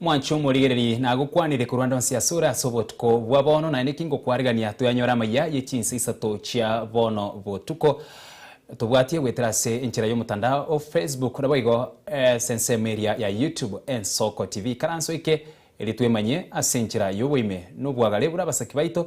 Mwanche omorigererie nagokwanire korwa ande onsi asore ase obotuko bwa bono, naende ki ngokwaregania toyanyore amaiga ye chinsa isato chia bono botuko. Tobwatie goetera ase enchera y'omotandao o Facebook naboigo ase ensemo eria ya YouTube Ensoko TV. Karanso oike erio twemanye ase enchera y'oboime nobwagare buna abasaki baito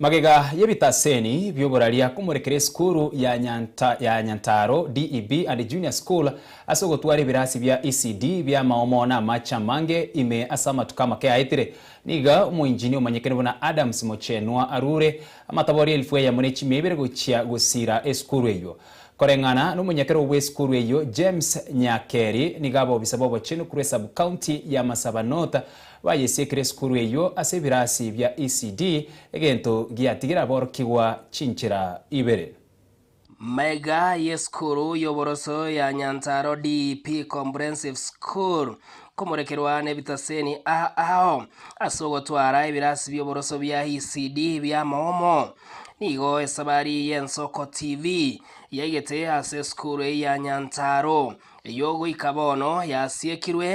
Magega y'ebitaseni bi'oboraria komorekera esukuru ya Nyanta ya Nyantaaro, DEB, and Junior School ase ogotwara ebirasi bia ECD bi'amaomo na amache amange ime ase amatuko amake aetire. Niga omoinjini omanyekene buna Adams Mochenwa arure amatabori elifu eyemo ne chimia ibere gochia gosiira esukuru eyio. Koreng'ana nomonyakero bw'esukuru eyio James Nyakeri nigo abobisa b'obochenu korwa esub-county ya Marsabah North Bayesiekire esukuru eyio ase ebirasi bia ECD, egento giatigire aborokigwa chinchera ibere. Maiga y'esukuru y'oboroso ya Nyanzaro DEP Comprehensive School komorekerwa nebitaseni aa ao ase ogotwara ebirasi bi'oboroso bia ECD bi'amomo. Nigo esabari y'Ensoko TV yaigete ase esukuru eye ya Nyanzaro eyio goika bono yasiekirwe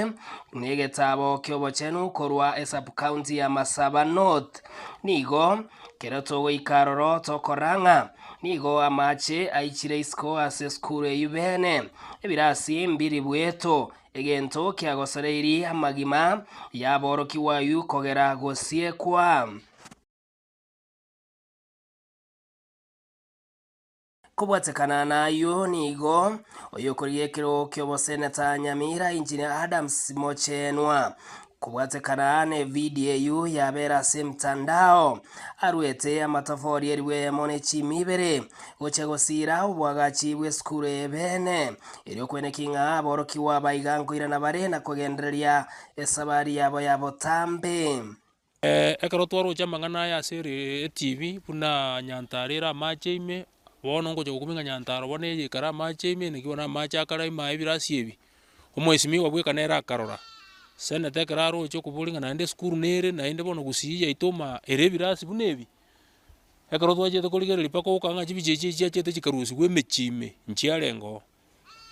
n'egetaabo ki'obochenu korwa esubcounty ya Masaba North. Nigo kero togoika aroro tokora ng'a nigo amache aichire isiko ase esukuru eyio beene, ebirasi mbiri bweto, egento kiagosoreiri amagima y'aborokigwa ayio kogera gosiekwa. Kobwatekana nayio nigo, oyokorigia ekerogo ki'oboseneta Nyamira Engineer Adams Mochenwa, kobwatekana nevidio eyio yabera ase emtandao, aruete amatofori erwe emo ne chimi ibere, gochia gosiira oboagachi bw'esukuru eye beene, erio kwene king'a aborokigwa baiga nkoirana bare na kogendereria esabari yabo ya botambe. Ekero twaroche amang'ana aya ase etibi buna nyantaara ere amache ime, bono ngocha gokobinga nyantaara bono eye ekare amache ime naki bono amache akare ime aye ebirasi ebi, omwesimigwa bweka nere akarora. Senete ekero aroche okoboria ng'a naende esukuru nere naende bono gusii yaito omaa ere ebirasi buna ebi, ekero twachete korigereria mpaka ogokora ng'a chibicha echi chiachete chikarusigwa emechie ime, nchiarenge oo.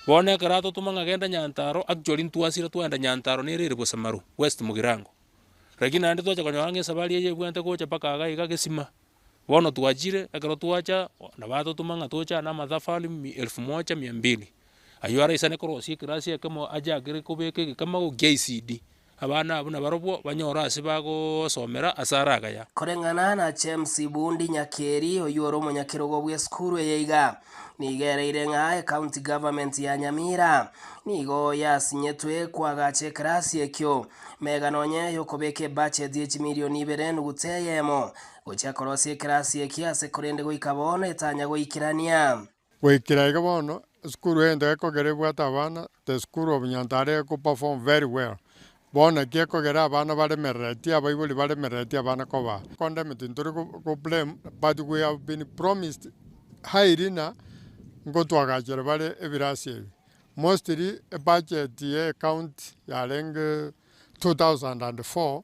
Bono ekero atotoma ng'a genda Nyantaro, actually ntwasire twaenda Nyantaro nere ere Bosemaro, West Mugirango. Lakini naende twacha konyora ng'a esabari eye ebwate gocha mpaka iga iga Gesima. Bono twachire, ekero twacha, nabo atotoma ng'a toche aa na amatafari mi elfu moja mia mbili. Ayio araisanekwa orosie ekerasi ekemo ache agere kobeka egekima gokia icd. Abana abwo nabarobwo banyore ase bagosomera ase araga ya. Koreng'ana na James Ibundi Nyakeri, oyio ore omonyakerogo bw'esukuru eye iga, nigo ereire ng'a ecounty government ya Nyamira nigo yasinyetwe koagacha ekerasi ekio, mega nonye yokobeka ebudget ye chimilioni ibere enuguta eyemo, gochia korosia ekerasi eki ase korende goika bono etanya goikerania. Goikera iga bono, esukuru egento gekogera ebwate abana, the school of Nyantare eko perform very well. Bono naki ekogera abana baremereretie, abaibori baremereretie abana koba. Condemn tintori ko blame but we have been promised highly na ngotwagachere bare ebirasi ebi. Mostly ebudget ye county yarenge 2004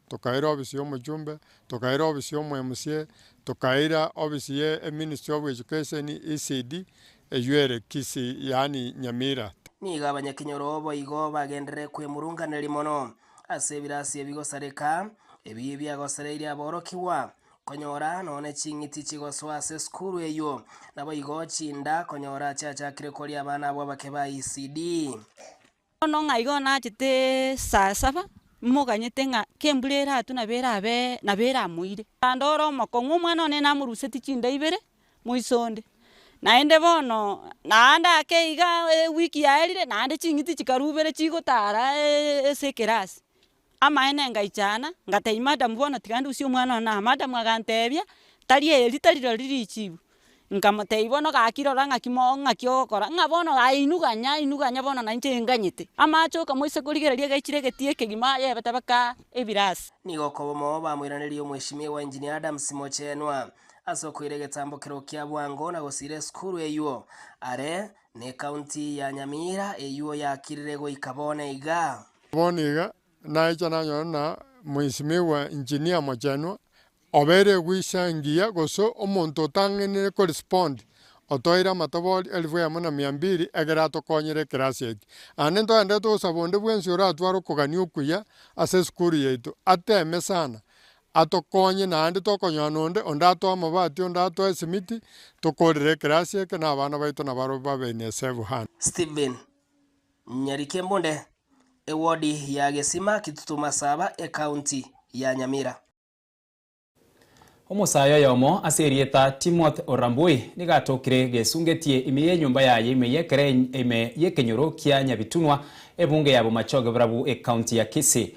tokaira ofisi ya omochumbe, tokaira ofisi ya omoMCA, tokaira ofisi ye eministry of education, ECD, eyio ere Kisii yaani Nyamira. Nigo abanyakinyoro boigo bagenderere kwemurunganeria mono ase ebirasio bigosareka, ebi biagosereirie aborokigwa konyora nonye ching'iti chigosoa ase esukuru eyio, naboigo chinda konyora chiachakire koria abana abwo abake ba ECD. Bono ng'a igo nachete saa saba, momoganyete ng'a kembura eratwe nabo erabe nabo eramoire. Naende ore omokong'u omwana one namorusetie chinda ibere moise onde, naende bono naende ake igaa ewiki yaerire naende ching'iti chikarubera chigotara ase ekerasi, Amaene ngaichana, ngatebia madam bono tiga ndusie omwana one aa, madam agantebia, tari eye rita riro riria richibu, nkamotebia bono gaki rora ng'aki moo ng'aki ogokora, ng'a bono aye inwe ganya inwe ganya bono nainche enganyete. Amache okamwa ase korigereria egechire egetia ekegima yebete baka ebirasi. Nigo okobomoo bamoiranerie omweshimiwa Engineer Adams Mochenwa ase okoira egetambo keroo kia bwango na gosiira esukuru eyuo are Necounty ya Nyamira eyuo yakirire goika bono iga. Bono iga naecha nanyore na Mheshimiwa Engineer Mochenwa obeire eguisa engiya gose omonto otang'enire ko respond otoeire amatobori elfu eyemo na mia mbiri ekero atokonyire ekerasi eke. Aande ntogende togosaba onde bwensi oratware okogania okuya ase esukuru yaito ateeme sana atokonye naende tokonyora nonde onde atoe amabati, onde atoe esimiti, tokorere ekerasi eke na abana baito na barobwo ba Beni-Esevu hano. Stephen, Nyeri Kembunde, ewodi ya Gesima Kitutu Masaba Ekaunti ya Nyamira. Omosae oyomo ase erieta Timothy Orambui nigo atokire gesungetie ime y'enyomba yaye ime y'ekere ime y'ekenyoro kia Nyabitunwa, ebunge ya Bomachoge Burabu, Ekaunti ya Kisii.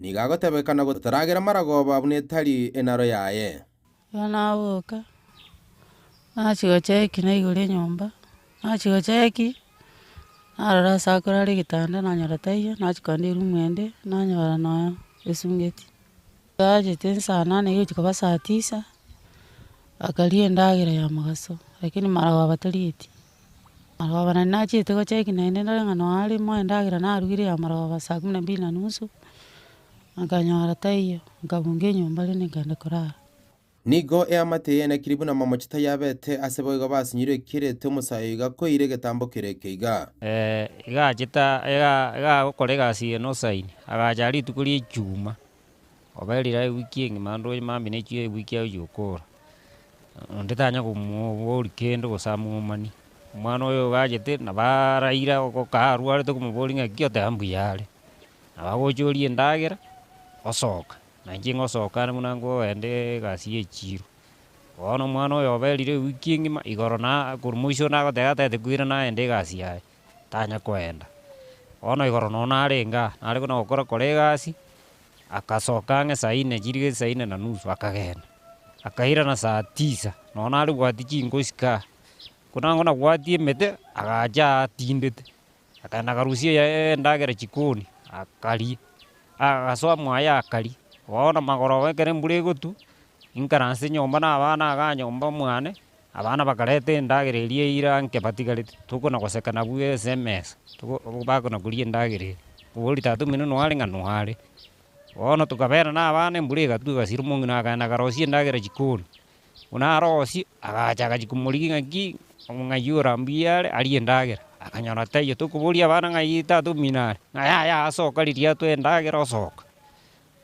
Nigo agotebekana gotaragera maragooba buna etari enaro yaye. Erio naboka, nachia gocheki naigoro enyomba, nachia gocheki, narora ase akore are egetanda nanyora taiyo, nachia kogenda erumu ende, nanyora nonya esungeti. Tachete esaa nane egochia koba saa tisa, bakaria endagera ya mogaso, lakini maragooba torigetie. Amarwagoba naende nachete gocheki naende ndore ng'a nonya arimo endagera narugire ya amarwagoba saa kumi na mbili na nusu, nkanyora taiyo, nkabunga enyomba rende nkagenda korara. Nigo eamate eyenekiri buna amamochi tayabete, ase boigo basinyirwe ekirete omosae oiga koeire egetambo kere ekeiga. Iga achete iga agokora egasi eye nosaini, agacha rituko ri'Echumaa. Obe rirorio ewiki engima naende oye mambia na echio ewiki aye ochia okora. Onde tanya komoboria kende gose amomani. Omwana oyo ogachete nabo araire ago ka arwarete okomoboria ng'a ki oteba mbuya are. Nabo agocha oria endagera, osoka. Na inche ngosoka are buna nkogenda egasi ya echiro. Bono omwana oyo obe rirorio ewiki engima igoro na korwa moiso nagoteba tatakwire nagenda egasi yaye. tanya koenda. Bono igoro nonya narenge aa, nare buna gokora kora egasi, agasoka ang'e saa inne chiriga saa inne na nusu akagenda, akairana saa tisa, nonya nare bwati chingosi kaa, buna bono nabwati emete, agacha aa atindete, akagenda akarusia eyaye endagera chikoni, akaria, agasoa mwaye akaria. Bono magoroba ekero embura egotwa, inkaranse nyomba na abana igaa nyomba mwane, Abana bakareta endagera eria eira nke batigarete, toko na goseka nabu ase emesa, toko bako na koria endagera eria. Obori tata omino noare ng'a noare. Bono tokabeera nabana embura egatwa egasira, omong'ina akaenda akarosia endagera chikoni. Buna arosie, agacha agachia komorigia ng'a ki, ng'ai ore mbuya are arie endagera. Akanyora taiyo, tokoboria abana ng'ai tata omino are, ng'a yaya asoka riria atwae endagera osoka.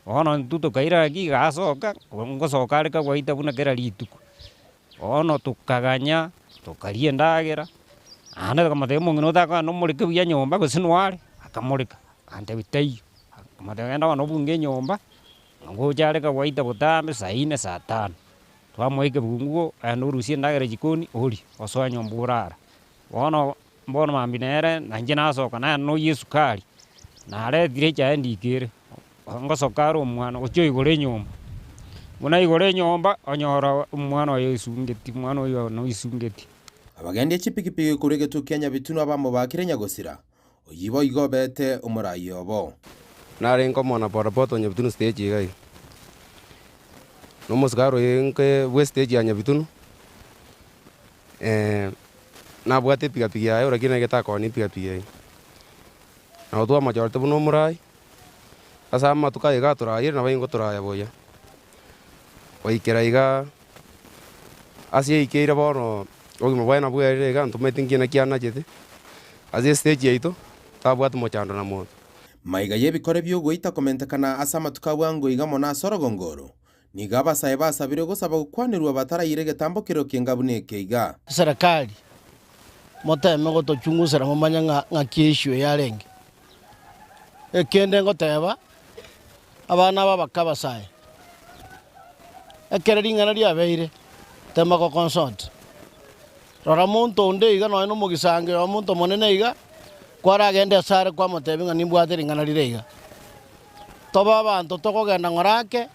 Bono intwe tokairaga kigasoka, ngosoka are kagwaita buna kera rituko. Bono tokaganya, tokaria endagera, naende tokamotebia omong'ina otakogenda nomoreke buya nyomba gose noare, akamoreka. Agantebia taiyo. Akamotebia genda bono obunge enyomba, na ngocha are kagwaita botambe saa ine, saa tano. Twamoa ekebungo, genda orusie endagera jikoni orie, osoe nyomba orare. Bono Bono mambia nere nainche nasoka, naye noyio esukari, naretire echae ndika ere, ngosoka are omwana gochia oigora enyomba. Buna aigora enyomba, onyora omwana oye oisungeti, omwana oyio bono oisungeti. Abagendi a chipigipigi korwa egetuo kia Nyabitunwa bamobaakire Nyagosira, oyio boigo obeete omoraai obo. Narenge omwana bodaboda o Nyabitunu stage iga iga, na omosikaari oye inke bw'estage ya Nyabitunu. Ee, nabwate epigapigi yaye ore, lakini egete akoona epigapigi eye. Nabo twamochorete buna omorai. Ase amatuko aye iga atorariire nabo ingo toraya buya, goikera iga ase yaikeire bono obogima bwaye nabwo bwerire iga ntomanyeti nki naki anachete. Ase estage yaito tabwati mochando na monto. Maiga y'ebikore bi'ogoita komentekana ase amatuko a bwango iga mono ase orogongo oro, Nigo abasae basabire ogosaba gokwanerwa batarayire egetambo kereo ki'enga buna eke iga. Serekari, moteme gotochungusera momanye ng'a ng'aki eissue yarenge. Ekende ngoteba, abana aba bakabasae, ekero ring'ana riabeire, tema goconsult. Rora, omonto onde iga nonya nomogisangio y'omonto omonene iga, kwaragende ase are kwamoteebie ng'a nimbwate ring'ana rire iga. Tobe abanto tokogenda ng'ora ake,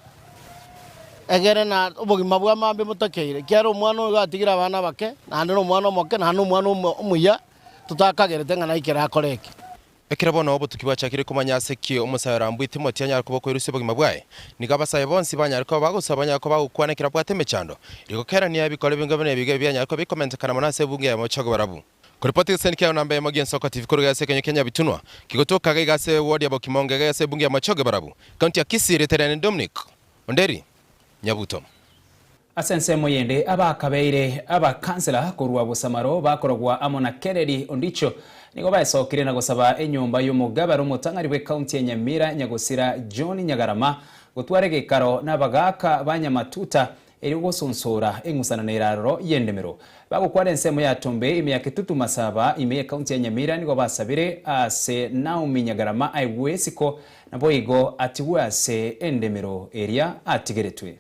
egere na obogima bwa mambia motakeire, ekiagera omwana oyo iga atigire abana abake, naende nomwana omoke, naende nomwana omuya, totakagerete ng'a naikere akore eke. Ekero bono obotuki bwachakire komanya ase ki omosae orambue Timoti anyare koba okoerusia obogima bwaye, nigo abasae bonsi banyare koba bagosoa banyare koba bagokwana ekero abwate emechando. Rigo kerania ebikoro binge buna ebigo ebi bianyare koba bikomentekana mono ase ebungo eyemo gochia kobarabwo. Koripoti egeseni kiago namba eyemo gi'Ensoko TV korwa igoro ase ekenywa kia Nyabitunwa, kigotoka iga ase wodi ya Bokimongege iga ase ebungo eyemo gochia kobarabwo, County ya Kisii, rieta riane ni Dominic Onderi Nyabuto. Ase ensemo eyende, abakabeire abakansela korwa Busamaro bakorogwa amo na Kereri Ondicho nigo baesokire na gosaba enyomba y'omogabera omotang'ani bw'ekaunti ya Nyamira Nyagosira John Nyagarama gotwara egekaro n'abagaaka ba Nyamatuta erio gosonsora eng'usanano ere aroro y'endemero. Bagokwana ensemo ya Tombe ime ya Ketutu Masaba ime y'ekaunti ya Nyamira nigo basabire aase Naomi Nyagarama aigwe esiko naboigo atigwe ase endemero eria atigeretwe.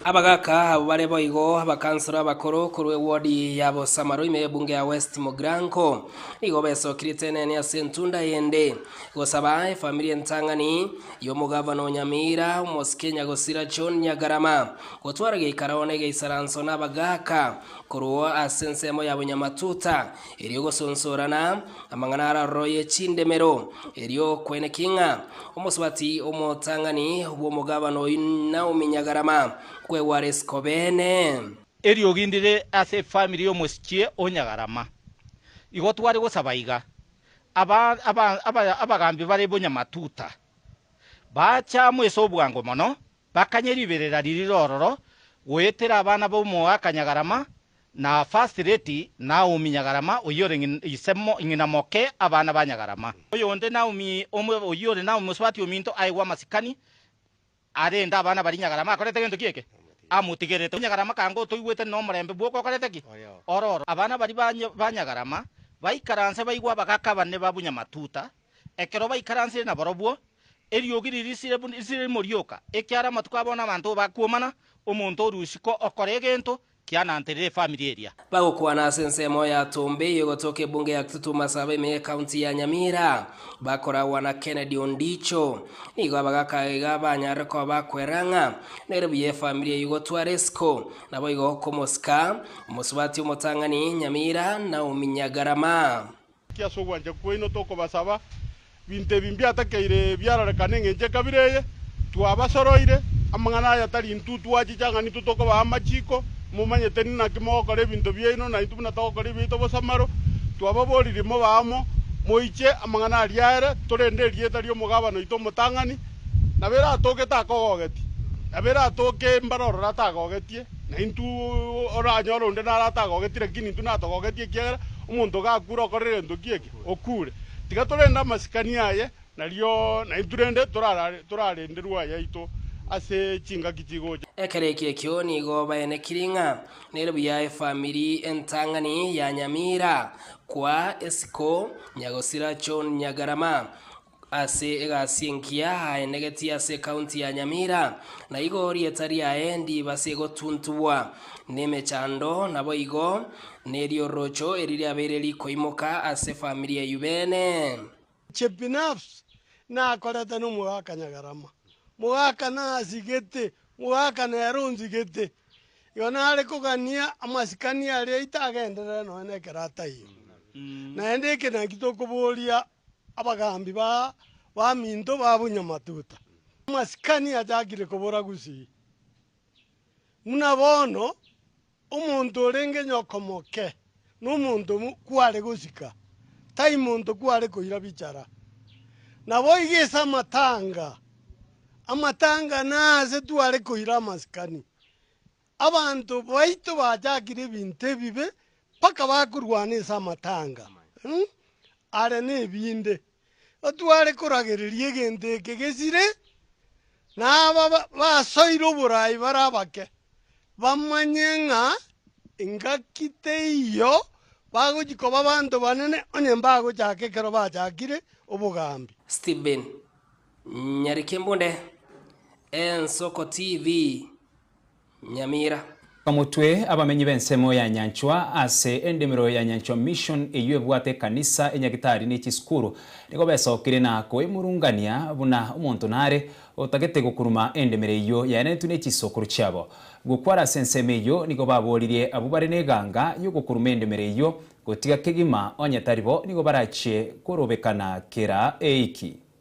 Abagaaka abwo bare boigo abakansoro abakoro korwa ewodi ya Bosamaro ime y'ebunge ya West Mogranko. Igo besokire tenene ase entunda eyende gosaba efamiri entang'ani y'omogavana o Nyamira, omosike Nyagosira John Nyagarama, gotwara geikaro one geisaranso n'abagaaka korwa ase ensemo ya Bonyamatuta. erio gosonsorana amang'ana araroroe chindemero, erio okweneki ng'a omosubati omotang'ani bw'omogabane oyio Naomi Nyagarama kwegware isiko beene. Erio ogindire ase efamiri y'omosichie o Nyagarama. Igo tware gosaba iga, aba aba aba abagaambi bare bonyamatuta, baacha amo ase obwango mono, Bakanye riberera ririre ororo, goetera abana b'omoaka Nyagarama na First Lady Naomi Nyagarama oyio ore ise ng'ina moke abana ba Nyagarama. Oyonde Naomi omo oyio ore Naomi mosubati ominto aye gw'amasikani arende abana baria Nyagarama akorete gento ki eke amotigerete. Nyagarama kanga otoigwete nomorembe bwoka okorete ki ororo. Abana baria ba Nyagarama baikaranse baigwe abagaka bane ba Bunyamatuta. Ekero baikaransire nabarobwo, eriogi ririsire buna risire rimorioka, ekiara amatuko abo nabanto bo bakuomana, omonto o rioisiko okora egento kiananterire efamiri eria. Bagokwana ase ensemo ya Tumbe eyio gotoka ebunge ya Kitutu Masaaba ime ye county ya Nyamira, bakoragwa na Kennedy Ondicho. Nigo abagaka iga banyarire koba bakwera ng'a nere buya efamiri eyio gotwara esiko, naboigo komosika, omosubati omotang'ani, Nyamira, Naomi Nyagarama. Ki ase ogwancha kwaino tokobasaba binto ebi mbiatakeire biarorekane engencho ekabira eye? Twabasoroire amang'ana aya tari intwe twachicha ng'a nintwe tokobaa amachiko, momanyete ninaki mogokora ebinto biaino naintwe buna togokora ebiaito bosamaro. Twababoririe mobe amo, moiche amang'ana aria ere, torende erieta ri'omogabani oito omotang'ani, nabo eratogete akogogetie, nabo eratooke mbare ororo atagogetie. Na intwe oranyore onde naro atagogetie, lakini intwe natogogetie, ekiagera omonto gakure okore egento ki eke, okure. Tiga torende amasikani aye, nario naintwe rende torarenderwe ayaito ase chingaki chigocha. Ekero ekio ekio nigo baenekiri ng'a nere buya efamiri entang'ani ya Nyamira, kwa Esiko, Nyagosira John Nyagarama, Ase egasi engiya aenegetie ase ekaunti ya Nyamira, na igo rieta riaye ndibase gotuntugwa nemechando, naboigo neri'orocho eri riabeire rikoimoka ase famiri eyio bene. Chebinafsi nakorete nomogaka Nyagarama, mogaka nasigete, mogaka nere onsigete, igo nare kogania amasikani aria itagenderere nonya nekerata eye. Naende ekenaki tokoboria Abagaambi ba baminto babunya matuta. Amasikani achakire kobora gusii. Buna bono, omonto orenge nyokomoke nomonto kware gosika, tai monto kware koira bichara. Naboigo ase amatanga, amatanga naase tware koira amasikani. Abanto baito bachakire ebinto ebibe mpaka bakorwana ase amatanga are nebinde. Otware koragereria egento eke gesire, na aba basoire oboraai bare abake, bamanye ng'a engaki teiyo bagochi koba abanto banene onye mbagochaka ekero bachakire obogambi. Stephen Nyarikembunde, Ensoko TV. Nyamira. Omotwe, Abamenyi b'ensemo ya Nyanchwa, Ase endimero ya Nyanchwa Mission eyio ebwate ekanisa, enyagitari ne chisukuru, nigo besokire na koemurungania buna omonto nare otagete gokuruma endimero eyio yaenanetwe ne chisokoro chiabo. Gokwara ase ensemo eyio nigo baboririe abwo bare n'eganga y'ogokuruma endimero eyio gotiga kegima onye tari bo nigo barachie korobekana kera eiki.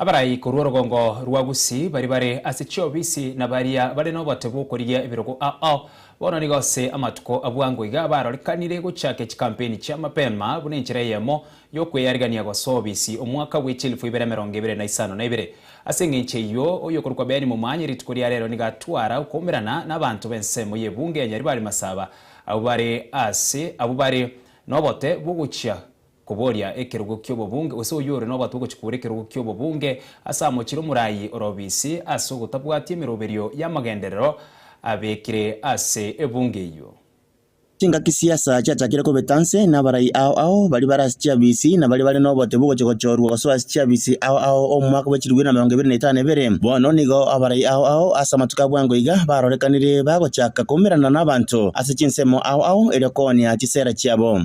Abarai korwa orogongo rwa Gusii baria bare ase chiobisi na baria bare n'obote bw'okorigia ebirogo ao. Bono nigo ase amatuko a bwango iga barorekanire gochaka chikampeni chia mapema buna enchera eyemo y'okweyarigania gosoa obisi omwaka bwe chielfu ibere emerongo ebere na isano na ibere. Ase eng'encho eyio, oyokorokwa Benny Momanye rituko ria rero nigo atwara okoumerana n'abanto b'ensemo y'ebunge ya Nyaribari Masaba abwo bare ase abwo bare n'obote bw'ogochia Koboria ekerogo ki'obobunge, gose oyio ore nobato ogochia kobora ekerogo ki'obobunge ase amochire omorai ore obisi ase ogotabwati emeroberio y'amagenderero abekire ase ebunge eyio. Chingaki chi'esaa chiachakire kobeta nse, na abarai ao ao baria bare ase chiabisi, na baria bare nobote bw'ogochia gochorwa gosoa ase chiabisi ao ao omwaka bw'echirigweri na emerongo ebere na etano ebere. Bono nigo abarai ao ao ase amatuko a bwango iga barorekanire bagochaka koumerana nabaanto ase chinsemo ao ao erio koonia chisera chiabo.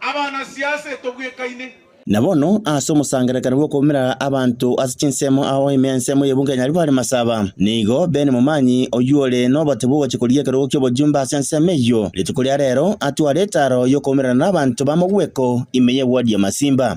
Abanasiase tobwekaine. Na bono, ase omosangererekano bw'okoumera abanto ase chinsemo ao ime ensemo y'ebunga enyari bare masaba, nigo Ben Momanyi, oyio ore nobotibu ogochia korigia ekerogo ki'obojumbe ase ensemo eyio, rituko ria rero atware etaaro y'okoumerana n'abanto b'amogweko ime y'ebwodi y'amasimba.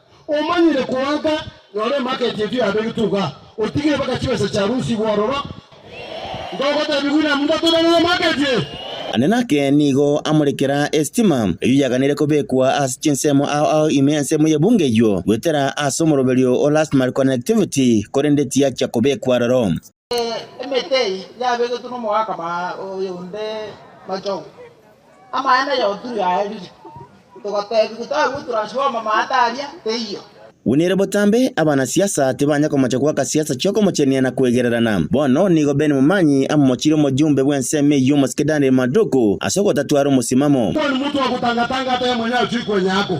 Omanyire koaka, noro emarket yetu yabegetwe iga, otigire mpaka chibesa chia rusi igwe ororo. Ntogotebi buna muna toberire emarket eye. Ande nake nigo amorekera esitima eyio yaganire kobekwa ase chinsemo ao ao ime ensemo y'ebunga eyio goetera ase omoroberio o last mile connectivity korende tiyachia kobekwa aroro. Emete eyio yabegetwe nomogakama oyonde Machogu, amaene na Yoturi aerire, togatebiwa tagwo transformer amaate aria teiyo. Buna ere botambe, abanasiasa tibanya komocha goaka siasa chi'okomochenia na kwegererana. Bono nigo Ben Momanyi amomochire omojumbe bw'ensemo eyio omosike Daniel Maduku ase ogotatwara omosimamo. Kwani motwe ogotanga-tanga atayamanya achiikwe nyako?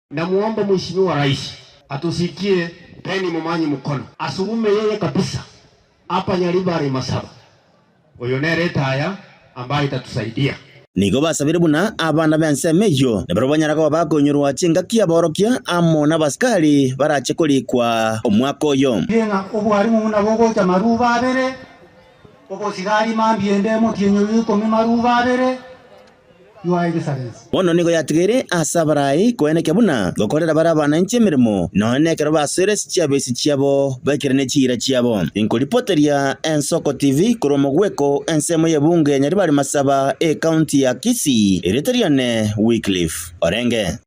Namuomba mweshimiwa Raisi atusikie Penny Momanyi Mukono asugume yeye kabisa apa nyari bare masaba. Oyo nere etaya ambaye tatusaidia. Nigo basabire buna abana b'ensemo eyio, na barabwo banyara koba bakoinyorwa chingaki y'aborokia amo n'abasikari barache korikwa omwaka oyo. Rie ng'a obwarimu buna bogocha maruuba abere, obosigari mambia ende emotienyi oyo ikomi maruuba abere. Bono nigo yatigeire aase abarai koenekia buna gokorera bare abananchi emeremo, nonye nekero basoire ase chiabeisi chiabo baikire ne chiira chiabo. Inkoripoteria Ensoko TV korwa omogweko ensemo y'ebunge ya Nyaribari-Masaba, ecounty ya Kisii, erieta riane Wycliffe Orenge.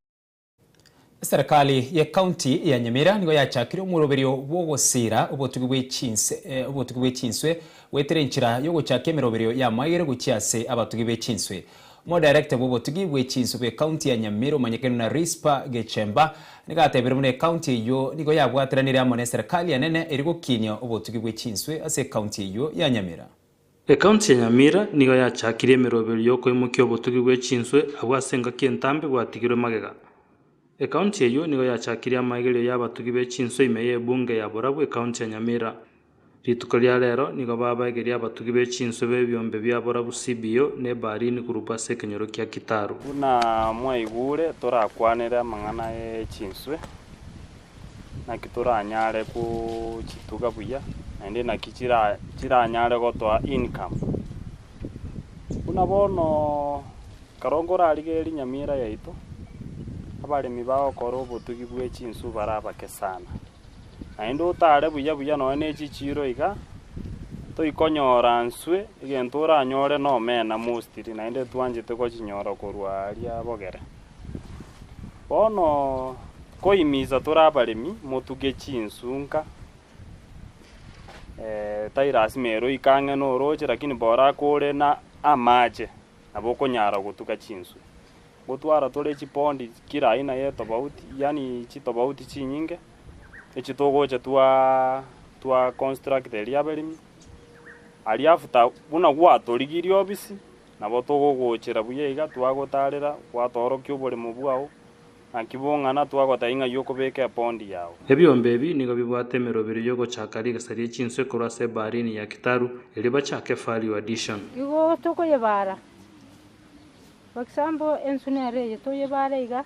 Eserekari y'Ekaunti ya Nyamira nigo yachakire omoroberio bw'ogosiira obotugi bwe chinse, eh, obotugi bwe chinswe goetera enchera y'ogochaka emeroberio y'amagere gochia ase abatugi be chinswe. Omodirector bw'obotugi bwe chinswe bw'Ekaunti ya Nyamira omanyekanire na Rispa Gechemba nigo atebire buna ekaunti eyio nigo yabwatiranire amo n'eserekari enene eri gokinia obotugi bwe chinswe ase ekaunti eyio ya Nyamira. Ekaunti ya Nyamira nigo yachakirie emeroberio y'okoimokia obotugi bwe chinswe abwo ase engaki entambe bwatigirwe magega. Ekaunti eyio nigo yachakirie amaegerio y'abatugi be chinswe ime y'ebunge ya Borabu ekaunti ya Nyamira. Rituko ria rero nigo babaegeria abatugi be chinswe b'ebiombe bia Borabu CBO na Ebaharini Group ase ekenyoro kia Kitaru. Buna mwaigure torakwanere amang'ana ye chinswe. naki toranyare gochituga buya, naende naki chira chiranyare gotoa income. Buna bono ekero nkorarigereria nyamira yaito, abaremi bagokora obotugi bwe chinswe bare abake sana, naende otare buya buya nonye ne echichiiro iga, toikonyora nswe egento oranyore na omena mostly, naende twanchete gochinyora korwa aaria bogere. Bono nkoimiisa tore abaremi, motuge chinsunka. Tari lasima ere oike ang'e norooche, lakini bora ake ore na amache, nabo okonyara gotuga chinsu. Gotwara tore chipondi kila aina ye tofauti, yaani chitofauti chinyinge, echio togocha twa twa construct eria abaremi, aria after buna gwatorigirie obisi. Nabo togogochera buya iga twagotaarera, gwatoorokia oboremo bwao, naki bong'ana twagoteba ing'ai okobeka epondi yao. Ebiombe ebi nigo bibwate emerobero y'ogochaka rigesa rie chinswe korwa ase ebaarini ya Kitaru, erio bachake Value Addition. Igo tokoyebaara, for example, ensu nero eye toyebaare iga,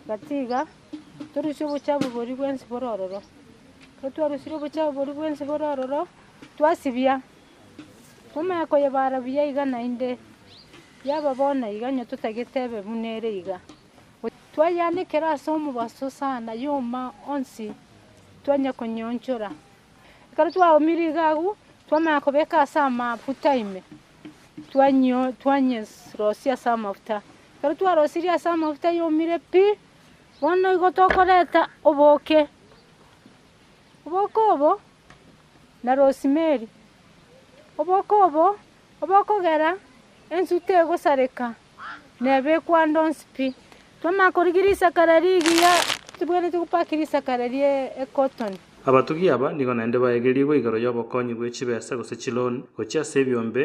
gatiga torusie obochafu boria bwensi bore ororo. Ekero twarusire obochafu boria bwensi bore ororo, twasibia Omanye koyebara buya iga naende, yaba bono iga onye totagete ebe buna ere iga. Twayanekera ase omobaso sana yoma onsi twanya konyeonchora. Ekero twaumire iga agwo, twamanya kobeka ase amafuta ime, twanyerosia ase amafuta. Ekero twarosirie ase amafuta yomire pi, bono igo tokoreta oboke. Oboke obo na rosimeri, oboko obo obokogera ensu tegosareka, nebe ekwando onsi pi. Twamanya korigia risaka ria rigiya, titwenereti gopaki risaka ria ri'ekotoni. Abatugi aba nigo naende baegerigwe igoro y'obokonyi bwe chibesa gose chiloan gochia ase ebiombe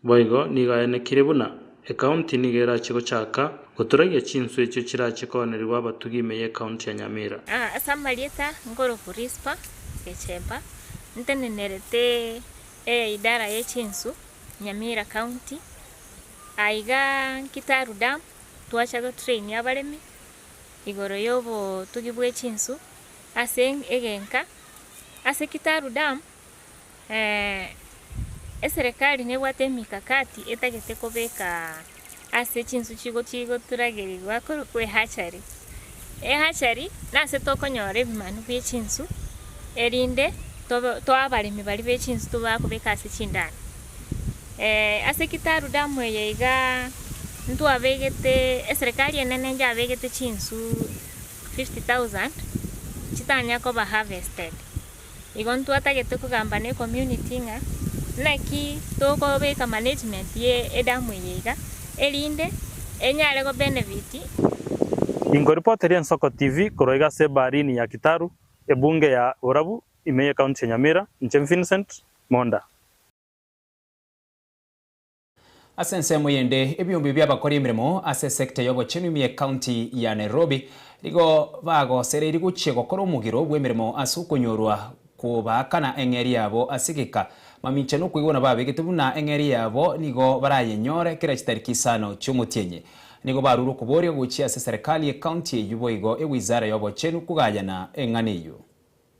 Boigo nigo aenekire buna Ekaunti nigo erache gochaka goturagia chinswe echio chirache koonerigwa abatugi ime y'Ekaunti ya Nyamira. Ase amarieta Ngorofu Rispa Gechemba ntenenerete eidara ye chinsu Nyamira County aiga Nkitaru Dam twacha go train abaremi igoro yobotugi bwe chinsu ase egenka ase Kitaru Dam Eserekari nebwate emikakati etagete kobeka ase chinsu chigochia igoturagerigwa korokwa ehachari. Ehachari nase tokonyora ebimanu bie chinsu erinde tobe toa abaremi baria be chinsu tobe bakobeka ase chindaro. ase kitaru damu eye igaa ntwabegete eserekari enene yabegete chinsu fifty thousand chitanya koba harvested Igo ntwatagete kogamba ne community ng'a naki tokobeka management ye edamu eye iga erinde enyare go benefit Inkoripoteria Ensoko TV korwa iga ase Ebaharini ya Kitaru, Ebunge ya Borabu ime ye County ya Nyamira, inche Vincent Monda. Ase ensemo eyende, ebiombe bi'abakori emeremo ase esekta y'obochenu ime y'Ekaunti ya Nairobi nigo bagosereirie gochia gokora omogiro bw'emeremo ase okonyorwa kw'obaakana eng'eria yabo ase egeka. Mamincha n'okoigwera babegete buna eng'eria yabo nigo barayenyore kera chitariki isano chi'omotienyi. Nigo barure okoboria gochia ase Serikali y'Ekaunti eyio boigo Ewizara y'Obochenu kogayana eng'ana eyio.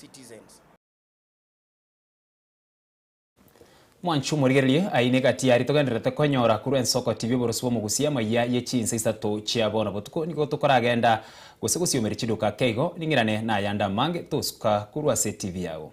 citizens. Mwanchi omorigereria, aye nigo atiari togendererete konyora korwa ense okotibia oborosi bw'omogusia emayia ye chinsa isato chia bono botuko nigo tokoragenda gose gosiomeri chiduka keigo ning'irane nayande amange tosuka korwa ase etv yago.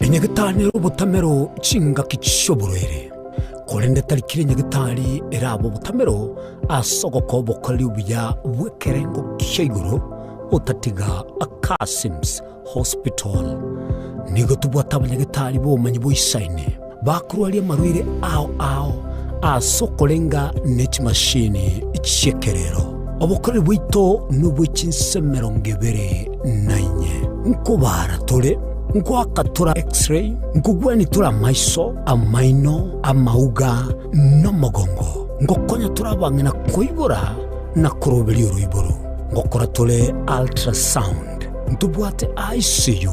Inye gitari nere obotamero chingaki chi'oborwaire, korende tari kera inye gitari erabe obotamero ase ogokora obokoreri obuya bw'ekerengo kia igoro, otatiga Kassim's Hospital. Nigo tobwate abanyagitari b'obomanyi boisaine. Bakorwaria amarwaire ao ao as'okorenga ne chimashini chi'ekerero. Obokoreri bwaito nobwe chinsa emerongo ebere na inye. Nkobaara tore, nkoaka tore X-ray, nkogwenia tore amaiso, amaino, amauga, nomogongo. Ngokonya tore abang'ina koibora na koroberia oroiboro. Ngokora tore ultrasound. Ntobwate ICU.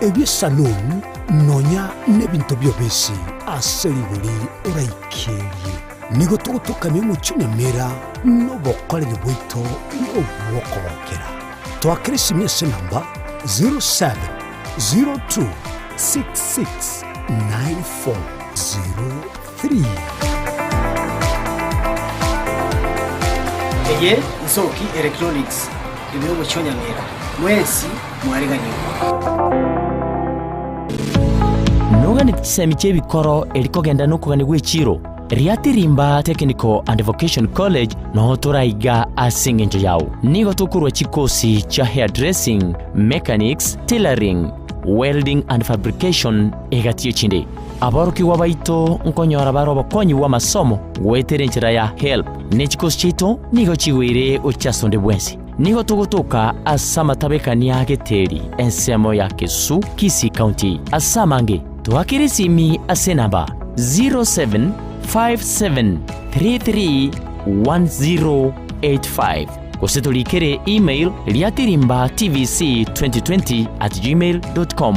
Ebisanunu nonya nebinto bi'obisi ase rigori oraikerie. Nigo togotokania omochie na emeera nobokoreri bwaito bw'okogokera. Twakere simi ase namba 0702669403. Eye Nsoki Electronics, ebiro gochionyang'era, mwensi mwareganie. Noganeti chisemi chia ebikoro eri kogenda nokogania gwe chiro? Riatia Rimba Technical and Vocation College noo tore aiga ase engencho yao. Nigo tokorua chikosi chia Hairdressing, Mechanics, Tailoring, Welding and Fabrication, Egati echinde, aborokigwa baito nkonyora bare obokonyi bw'amasomo goetera enchera ya Help, ne chikosi chiaito nigo chigweire gochia ase onde bwensi. Nigo togotoka ase amatabekani a Geteri, ensemo ya Kesu, Kisii County. Ase amange, toakire esimi ase enamba 0757331085 gose toriikere email riatirimba tvc2020 at gmail.com.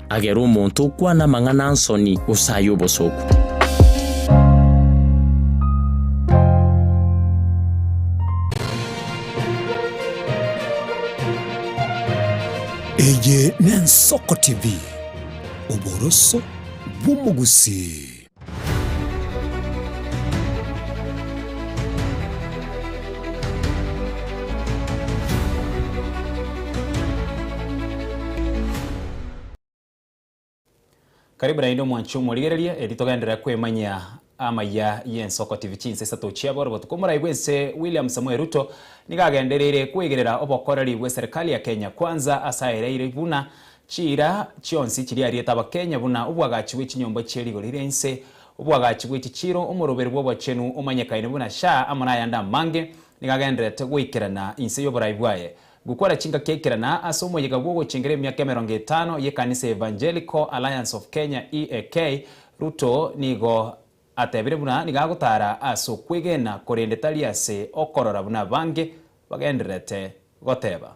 Agere omonto okwana amang'ana a'nsoni, gose ay'obosoku. Eye n'Ensoko TV, oboroso bw'omogusii. Karibu naende omwanchi omorigereria eri togenderere kwemanyia amaya y'ensoko TV chinsa isato chia bono botuko omorai bw'ense William Samoei Ruto nigo agendereire kweigerera obokoreri bw'eserikali ya Kenya Kwanza ase aereire buna Chiira chionsi chiria ariete abakenya buna obwagachi bwe chinyomba chie rigo rire inse, obwagachi bwe chichiiro, omoroberi bw'obochenu omanyekaine buna Shah amo nayande amange, nigo agendererete goikerana inse y'oborai bwaye. Gokora chingaki aikerana ase omoyega bw'ogochengera emiaka emerongo etano y'ekanisa ya Evangelical Alliance of Kenya, EAK, Ruto nigo atebire buna nigo agotara ase okwegena korende tari ase okorora buna abange bagendererete goteba.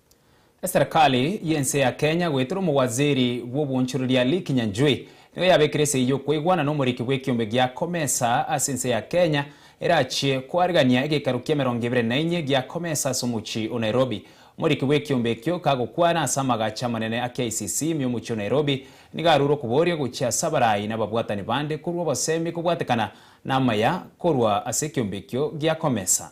Eserekari y'ense ya Kenya goetera omowaziri bw'obwonchoreria Lee Kinyanjui nigo yabekire esegi y'okweigwana n'omoriki bw'ekiombe gia Comesa ase ense ya Kenya erachie koarigania egeikaru ki'emerongo ebere na inye gia Comesa ase omochie o Nairobi. Omoriki bw'ekiombe ekio kagokwana ase amagacho amanene a KICC ime omochie o Nairobi nigo arure okoboria gochia ase abarai na ababwatani bande korwa obosemi kobwatekana namaya korwa ase ekiombe ekio gia Comesa.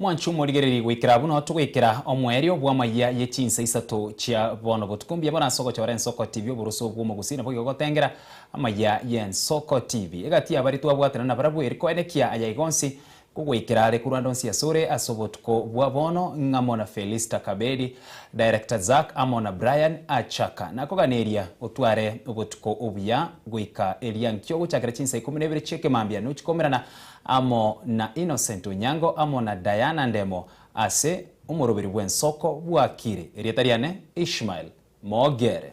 Mwanche omorigererie goikera buna togoikera omoerio bw'amayia ye chinsa isato chia bono. Botuko mbuya bore ase ogochora ensoko tibi oboroso bw'omogusii nabwo igo gotengera amayia y'ensoko tibi. Egati y'abari twabwatana nabarabwo eri koenekia aya igo onsi kogoikera are korwa ande onsi asore ase obotuko bwa bono ng'amo na Felista Kabedi, Director Zack amo na Brian Achaka. Nakoganeria otware obotuko obuya goika eria nkio gochakera chinsa ikomi na ibere chi'ekemambia nochikomerana amo na Innocent Onyango amo na Diana Ndemo ase omoroberi bw'ensoko bwa Kiri, erieta riane Ishmael Mogere.